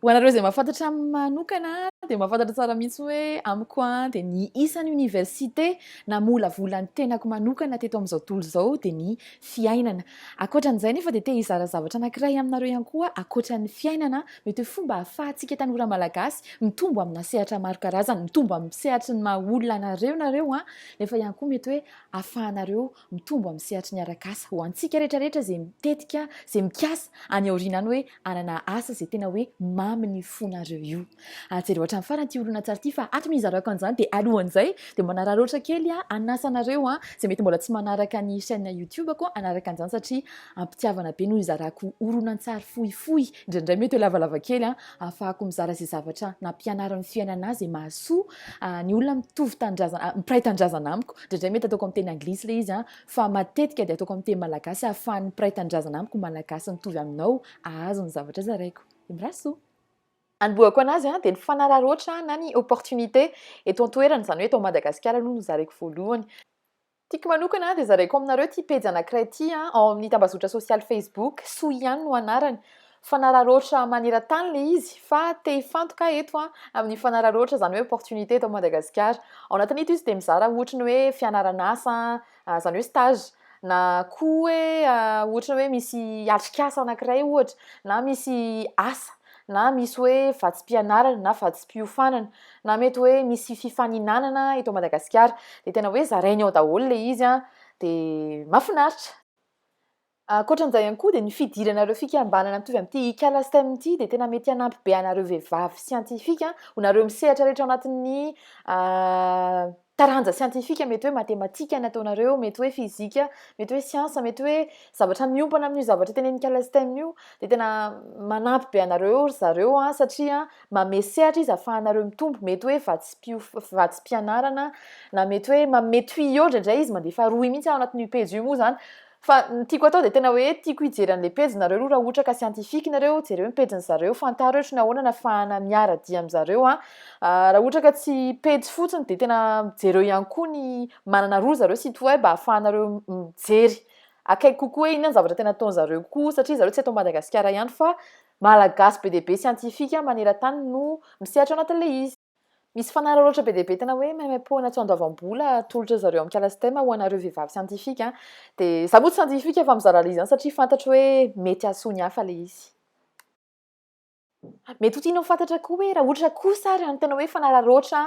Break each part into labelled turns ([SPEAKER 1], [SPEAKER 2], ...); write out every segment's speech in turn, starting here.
[SPEAKER 1] Ho anareo izay mahafantatra aminy manokana dia mahafantatra tsara mihitsy hoe amiko an dia ny isan'ny oniversite namolavola ny tenako manokana teto amin'izao tontolo izao dia ny fiainana. Ankoatran'izay nefa dia te hizara zavatra anankiray aminareo ihany koa ankoatran'ny fiainana mety hoe fomba ahafahantsika tanora malagasy mitombo amina sehatra maro karazany, mitombo amin'ny sehatry ny maha olona anareo nareo an, nefa ihany koa mety hoe ahafahanareo mitombo amin'ny sehatry ny arak'asa ho antsika rehetra rehetra izay mitetika izay mikasa any aoriana any hoe hanana asa izay tena hoe mamy ny fonareo io ary jereo hatramin'ny farany ity horonan-tsary ity fa hatry ny hizarako an'izany dia alohan'izay dia manararaotra kely aho hanasa anareo an izay mety mbola tsy manaraka ny chaîne youtube ko hanaraka an'izany satria ampitiavana be no hizarako horonan-tsary fohifohy indraindray mety ho lavalava kely an Ahafahako mizara izay zavatra nampianarin'ny fiainana ahy izay mahasoa ny olona mitovy tanindrazana, mpiray tanindrazana amiko. Indraindray mety ataoko amin'ny teny anglisy ilay izy, fa matetika dia ataoko amin'ny teny malagasy ahafahan'ny mpiray tanindrazana amiko malagasy mitovy aminao hahazo ny zavatra zaraiko. Imbrasoa! Anombohako an'azy dia ny fanararaotra na ny opportunité eto an-toerana, izany hoe eto Madagasikara aloha no zaraiko voalohany. Tiako manokana dia zaraiko aminareo ity pejy anankiray ity an, ao amin'ny tambazotra sosialy facebook, soa ihany no anarany, fanararaotra maneran-tany ilay izy, fa te hifantoka aho eto an, amin'ny fanararaotra izany hoe opportunité eto Madagasikara. Ao anatin'ito izy dia mizara ohatra ny hoe fianaran'asa an, izany hoe stage, na koa hoe ohatra hoe misy atrikasa anankiray ohatra, na misy asa, na misy hoe vatsim-pianarana na vatsim-piofanana. na mety hoe misy fifaninanana eto Madagasikara dia tena hoe zarainy ao daholo ilay izy an, dia mahafinaritra. Ankoatra an'izay ihany koa dia ny fidirana ireo fikambanana mitovy amin'ity Ikala Stem ity dia tena mety hanampy be anareo vehivavy siantifika, ho nareo misehatra rehetra ao anatin'ny taranja siantifika, mety hoe matematika nataonareo, mety hoe fizika, mety hoe siansa, mety hoe zavatra miompana amin'io zavatra tenenikala stem io, dia tena manampy be anareo ry zareo an, satria mame sehatra izy afahanareo mitombo, mety hoe vatsim-pianarana, na mety hoe manome tuyau indraindray izy, mandefa rohy mihitsy ao anatin'io pejy io moa izany, Fa ny tiako atao dia tena hoe tiako hijery an'ilay pejy nareo aloha raha ohatra ka scientifique nareo, jereo ny pejin'ny zareo, fantaro ohatry ny ahoana ny afahana miara-dia amin'ny zareo an. Raha ohatra ka tsy pejy fotsiny dia tena jereo ihany koa ny manana roa zareo site web ahafahanareo mijery akaiky kokoa hoe inona ny zavatra tena ataon'ny zareo koa satria zareo tsy ato Madagasikara ihany fa Malagasy be dia be scientifique maneran-tany no misehatra ao anatin'ilay izy. Misy fanararaotra be dia be tena hoe maimaim-poana tsy andoavam-bola atolotra zareo amin'ny kala STEM ho anareo vehivavy siantifika. Dia za moa tsy siantifika fa mizara le izany satria fantatro hoe mety hahasoa ny hafa le izy. Mety ho tianao fantatra koa hoe raha ohatra kosa ary ny tena hoe fanararaotra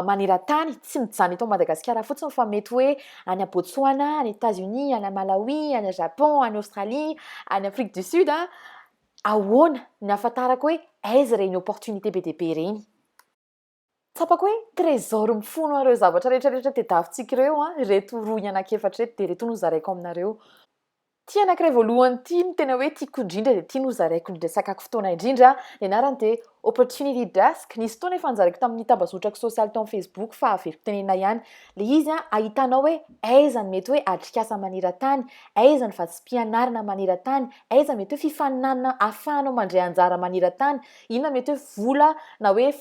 [SPEAKER 1] maneran-tany, tsy mijanona eto Madagasikara fotsiny fa mety hoe any Botswana, any Etats-Unis, any Malawi, any Japon, any Australie, any Afrique du Sud, Ahoana ny ahafantarako hoe aiza ireny opportunité be dia be ireny? Tsapako hoe trésor mifono an'ireo zavatra rehetra rehetra tadiavintsika ireo an, ireto rohy anankiefatra ireto dia ireto no zaraiko aminareo. Ity anankiray voalohany ity no tena hoe tiako indrindra dia ity no zaraiko indrindra sakako fotoana indrindra. Ny anarany dia Opportunity Desk. Nisy fotoana efa nozaraiko tamin'ny tambazotrako sosialy tao amin'ny Facebook fa averiko tenenina ihany. Ilay izy an, ahitanao hoe aiza ny mety hoe atrikasa maneran-tany, aiza ny vatsim-pianarana maneran-tany, Aiza mety hoe fifaninanana ahafahanao mandray anjara maneran-tany? Inona mety hoe vola na hoe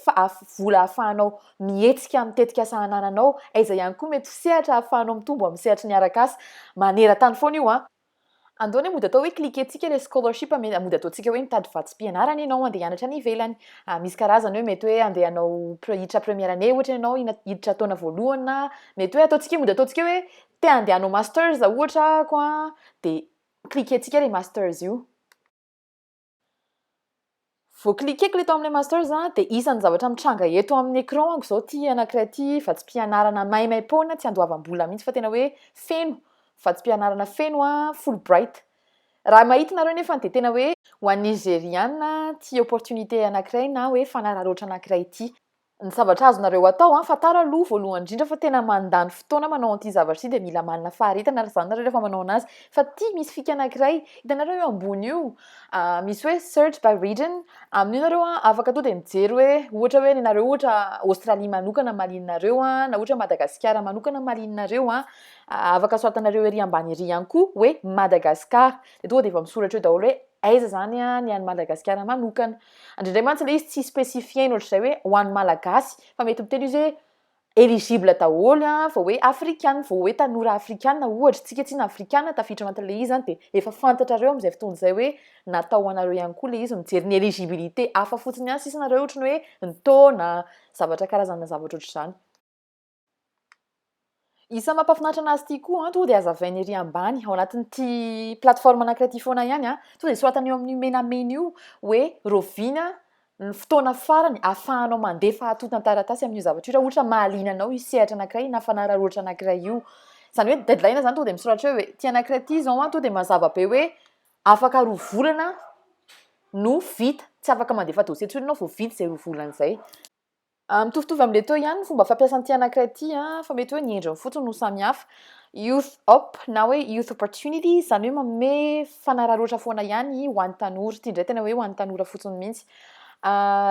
[SPEAKER 1] vola ahafahanao mihetsika amin'ny tetikasa anananao? Aiza ihany koa mety ho sehatra ahafahanao mitombo amin'ny sehatry ny arak'asa? Maneran-tany foana io an! Andao anie mody atao hoe cliquer-tsika ilay scholarship an! Mody ataontsika hoe mitady vatsim-pianarana ianao handeha hianatra any ivelany. Misy karazany hoe mety hoe handeha hanao hiditra première année ohatra ianao, hiditra taona voalohany na mety hoe ataontsika hoe mody ataontsika hoe te handeha hanao masters ohatra aho an! dia cliquer tsika le masters io. Vao cliquer ko le tao amle masters a de isany zavatra mitranga eto aminy ecran anko zao ty anakiray ty vatsim-pianarana maimaimpoana tsy andoavam-bola mihitsy fa tena hoe feno vatsim-pianarana feno a fulbright raha mahita nareo nefany de tena hoe ho an'ny nigeriana tia opportunité anakiray na hoe fanararaotra anakiray ty Ny zavatra azonareo atao an, fantaro aloha voalohany indrindra fa tena mandany fotoana manao an'ity zavatra ity dia mila manana faharetana ary izany nareo rehefa manao anazy fa ity misy fika anakiray hitanareo io ambony io misy hoe search by region amin'io nareo an afaka tonga dia mijery hoe ohatra hoe ny anareo ohatra Australie manokana malinareo an na ohatra Madagasikara manokana malinareo an afaka soratanareo ery ambany ery ihany koa hoe Madagasikara dia tonga dia efa misoratra eo daholo hoe aiza izany an ny an'i Madagasikara manokana Indraindray mantsy ilay izy tsy specifier-ny ohatr'izay hoe ho an'ny Malagasy fa mety miteny izy hoe eligible daholo an, vao hoe afrikana, vao hoe tanora afrikana ohatra, isika tsinona afrikana tafiditra ao anatin'ilay izy dia efa fantatrareo amin'izay fotoana izay hoe natao ho anareo ihany koa ilay izy, mijery ny eligibilité hafa fotsiny ihany sisa nareo ohatrany hoe ny taona, zavatra karazana zavatra ohatr'izany. Isan'ny mampahafinaritra anazy ity koa an, tonga dia azavainy ery ambany ao anatin'ity plateforme anankiray ity foana ihany an, tonga dia soratana eo amin'io menamena io hoe rahoviana ny fotoana farany ahafahanao mandefa antontan-taratasy amin'io zavatra io raha ohatra mahaliana anao io sehatra anankiray io na fanararaotra anankiray io. Izany hoe deadline izany tonga dia misoratra eo hoe ity anankiray ity izao an, tonga dia mazava be hoe afaka roa volana no vita, tsy afaka mandefa dossier intsony ianao vao vita izay roa volana izay. Mitovitovy amin'ilay teo ihany ny fomba fampiasa an'ity anankiray ity fa mety hoe ny endriny fotsiny no samihafa. Youth Op na hoe Youth Opportunity, izany hoe manome fanararaotra foana ihany ho an'ny tanora. Ity indray tena hoe ho an'ny tanora fotsiny mihitsy.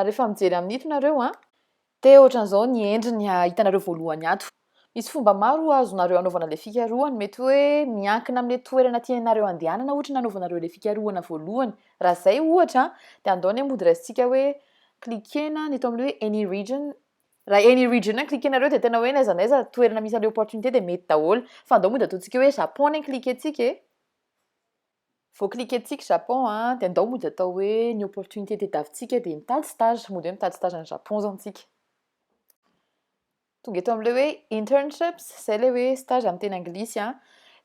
[SPEAKER 1] Rehefa mijery amin'ito nareo dia ohatran'izao ny endriny hitanareo voalohany ato. Misy fomba maro azonareo anaovana ilay fikarohana, mety hoe miankina amin'ilay toerana tianareo handehanana ohatra no anaovanareo ilay fikarohana voalohany. Raha izay ohatra dia andao ny hamody raisintsika hoe cliquer-na ny eto amin'ny hoe any region, raha any region no cliquer-nareo dia tena hoe n'aiza n'aiza toerana misy an'ilay opportunité dia mety daholo, fa andao mody ataontsika hoe Japon ny cliquer-tsika e, vao cliquer-tsika Japon dia andao mody atao hoe ny opportunité tadiavintsika dia mitady stage, mody hoe mitady stage any Japon izao isika. Tonga eto amin'ilay hoe internships, izay ilay hoe stage amin'ny teny anglisy an,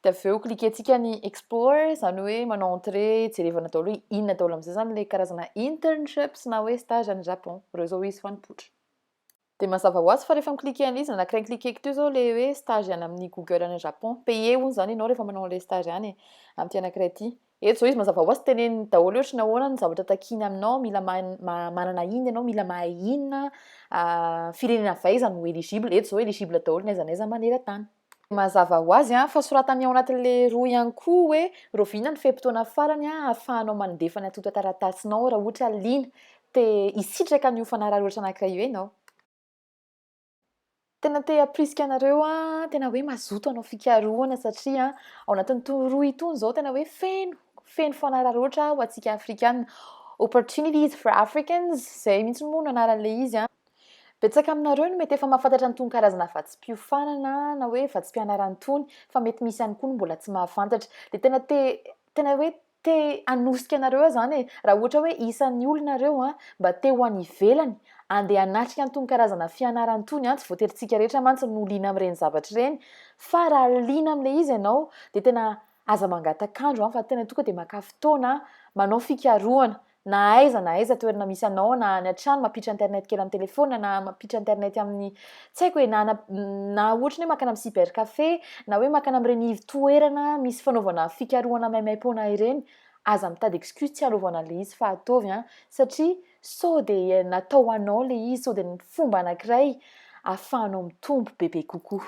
[SPEAKER 1] dia avy eo klikentsika ny explore, izany hoe manao entrée, jerevana daholo hoe inona daholo amin'izay izany ilay karazana internships na hoe stage any Japon. Ireo izao izy fa nipoitra. Dia mazava ho azy fa rehefa mi-cliquer an'ilay izy nanakaiky ny klikeko teo izao ilay hoe stage any amin'ny Google any Japon. Payer hono izany ianao rehefa manao an'ilay stage any e, amin'ity anankiray ity. Eto zao izy mazava hoazy teneniny daholo ohatry ny ahoana ny zavatra takiany aminao, mila manana inona ianao, mila mahay inona, firenena avy aiza no eligible, eto zao eligible daholo n'aiza n'aiza maneran-tany. Mazava hoazy fa soratany ao anatin'le rohy ihany koa hoe rahoviana ny fe-potoana farany ahafahanao mandefa ny antontan-taratasinao raha ohatra liana te hisitraka an'io fanararaotra anankiray io ianao. Tena te hampirisika anareo aho tena hoe mazoto hanao fikarohana satria ao anatin'ny tour roa itony izao tena hoe feno feno fanararaotra ho antsika Afrikana. Opportunities for Africans, izay mihitsy moa no anaran'ilay izy an. Betsaka aminareo no mety efa mahafantatra an'itony karazana vatsim-piofanana na hoe vatsim-pianarana itony fa mety misy ihany koa no mbola tsy mahafantatra. Dia tena te tena hoe Te hanosika anareo aho zany e! Raha ohatra hoe isan'ny olona reo an, mba te ho any ivelany, andeha hanatrika an'tony karazana fianarana tony an, tsy voatery tsika rehetra mantsy no liana amin'ireny zavatra ireny, fa raha liana amin'ilay izy ianao dia tena aza mangatak'andro an, fa tena tonga dia maka fotoana an, manao fikarohana, Na aiza na aiza toerana misy anao, na any an-trano, mampiditra internet kely amin'ny telefaonina, na mampiditra internet amin'ny, tsy haiko e, na na na ohatry ny hoe mankany amin'ny cybercafé, na hoe mankany amin'ireny ivo-toerana misy fanaovana fikarohana maimaim-poana ireny, aza mitady excuse tsy hanaovana an'ilay izy fa ataovy an! satria sao dia natao ho anao ilay izy, sao dia fomba anankiray ahafahanao mitombo bebe kokoa.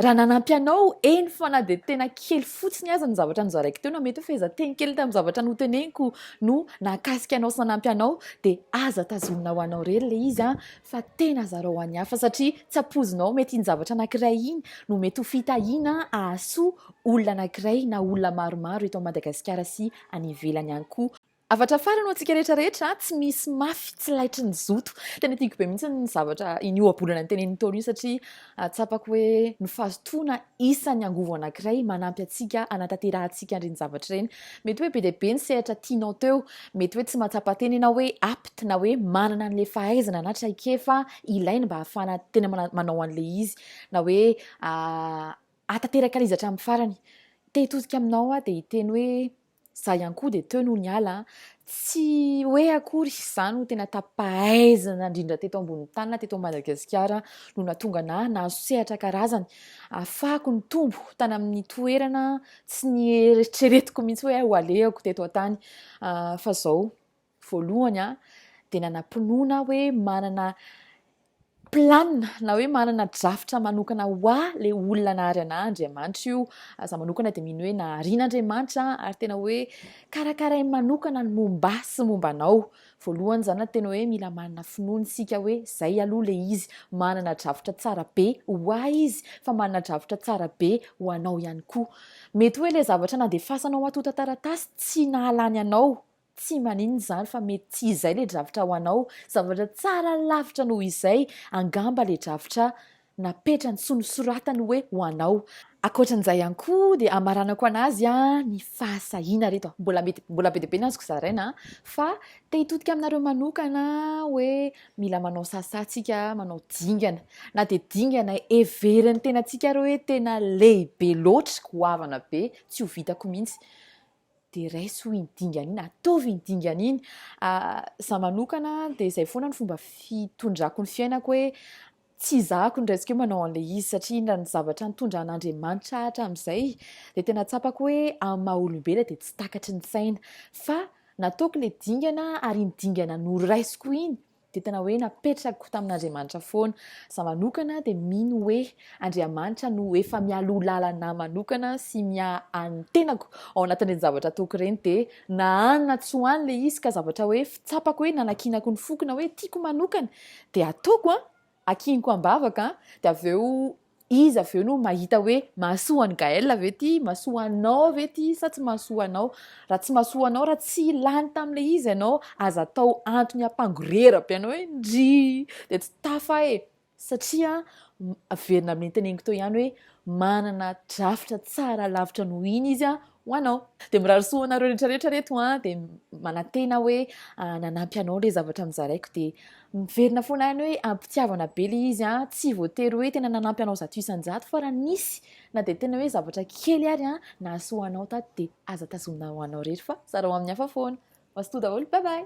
[SPEAKER 1] Raha nanampy anao, eny fa na dia tena kely fotsiny aza ny zavatra nozaraiko teo, na mety hoe fehezanteny kely tamin'ny zavatra noteneniko no nahakasika anao sy nanampy anao, dia aza tazomina ho anao irery ilay izy fa tena zarao ho an'ny hafa, satria tsy ampoizinao, mety iny zavatra anankiray iny no mety ho fitahiana hahasoa olona anankiray na olona maromaro eto Madagasikara sy any ivelany ihany koa. Avatra farany ho antsika rehetra rehetra, tsy misy mafy tsy laitry ny zoto. Tena tiako be mihitsy ny zavatra iny ohabolana nitenenin'i Ntaolo iny satria ah, tsapako hoe ny fazotoana isan'ny angovo anankiray manampy antsika hanatanterahantsika an'ireny zavatra ireny. Mety hoe be dia be ny sehatra tianao teo, mety hoe tsy mahatsapa teny ianao hoe apte na hoe manana an'ilay fahaizana na traikefa ilaina mba hahafahana tena mana- manao an'ilay izy na hoe ah, hahatanteraka an'izy hatramin'ny farany. Te hitodika aminao aho dia hiteny hoe Za ihany koa dia teo no niala an! Tsy hoe akory za no tena tapahaizana indrindra teto ambonin'ny tany na teto Madagasikara no nahatonga anà nahazo sehatra karazany ahafahako nitombo tany amin'ny toerana tsy nieritreretiko mihitsy hoe ho alehako teto an-tany fa zao Voalohany aho dia nanam-pinoana aho hoe manana plan na hoe manana drafitra manokana ho ahy le olona nahary anah Andriamanitra io. Aza manokana dia mino hoe nahariana Andriamanitra ary tena hoe karakarainy manokana ny momba sy momba anao. Voalohany izany tena hoe mila manana finoana isika hoe zay aloha le izy manana drafitra tsara be ho ahy izy fa manana drafitra tsara be ho anao ihany koa. Mety hoe le zavatra nandefasanao antotan-taratasy tsy nahalany anao Tsy maninona izany fa mety tsy izay ilay drafitra ho anao, zavatra tsara lavitra noho izay angamba ilay drafitra napetrany sy nosoratany hoe ho anao. Ankoatran'izay ihany koa dia hamaranako an'azy ny fahasahiana ry reto, mbola mety mbola be dia be ny azoko zaraina fa te hitodika aminareo manokana hoe mila manao sasa tsika, manao dingana, na dia dingana heverin'ny tenantsika ary hoe tena lehibe loatra, goavana be, tsy ho vitako mihitsy. dia raiso iny dingana iny, ataovy iny dingana iny. Za manokana dia izay foana ny fomba fitondrako ny fiainako hoe tsy izahako ny raisiko hoe manao an'ilay izy satria iny raha ny zavatra nitondra an'Andriamanitra hatramin'izay dia tena tsapako hoe amin'ny maha olombelona dia tsy takatry ny saina fa nataoko ilay dingana ary iny dingana noraisiko iny dia tena hoe napetrako tamin'Andriamanitra foana. Za manokana dia mino hoe Andriamanitra no efa mialoha lalana manokana sy miaha an'ny tenako ao anatin'ireny zavatra ataoko ireny dia na any na tsy ho any ilay izy ka zavatra hoe fitsapako hoe nanakinako ny foko na hoe tiako manokana dia ataoko an! Akiniko ambavaka dia avy eo izy avy eo no mahita hoe mahasoa an'i Gaël ve ity, mahasoa anao ve ity sa tsy mahasoa anao. Raha tsy mahasoa anao, raha tsy lany tamin'ilay izy ianao, aza atao antony hampangorera be anao hoe ndrii, dia tsy tafa e! satria averina amin'ny teneniko teo ihany hoe manana drafitra tsara lavitra noho iny izy ho anao. Dia mirary soa ho anareo rehetra rehetra ry reto an, dia manantena hoe nanampy anao ilay zavatra nozaraiko dia miverina foana any hoe am-pitiavana be ilay izy an, tsy voatery hoe tena nanampy anao zato isan-jato fa raha nisy na dia tena hoe zavatra kely ary an nahasoa anao tato dia aza tazomina ho anao irery fa zarao amin'ny hafa foana. Mazotoa daholo, bye bye.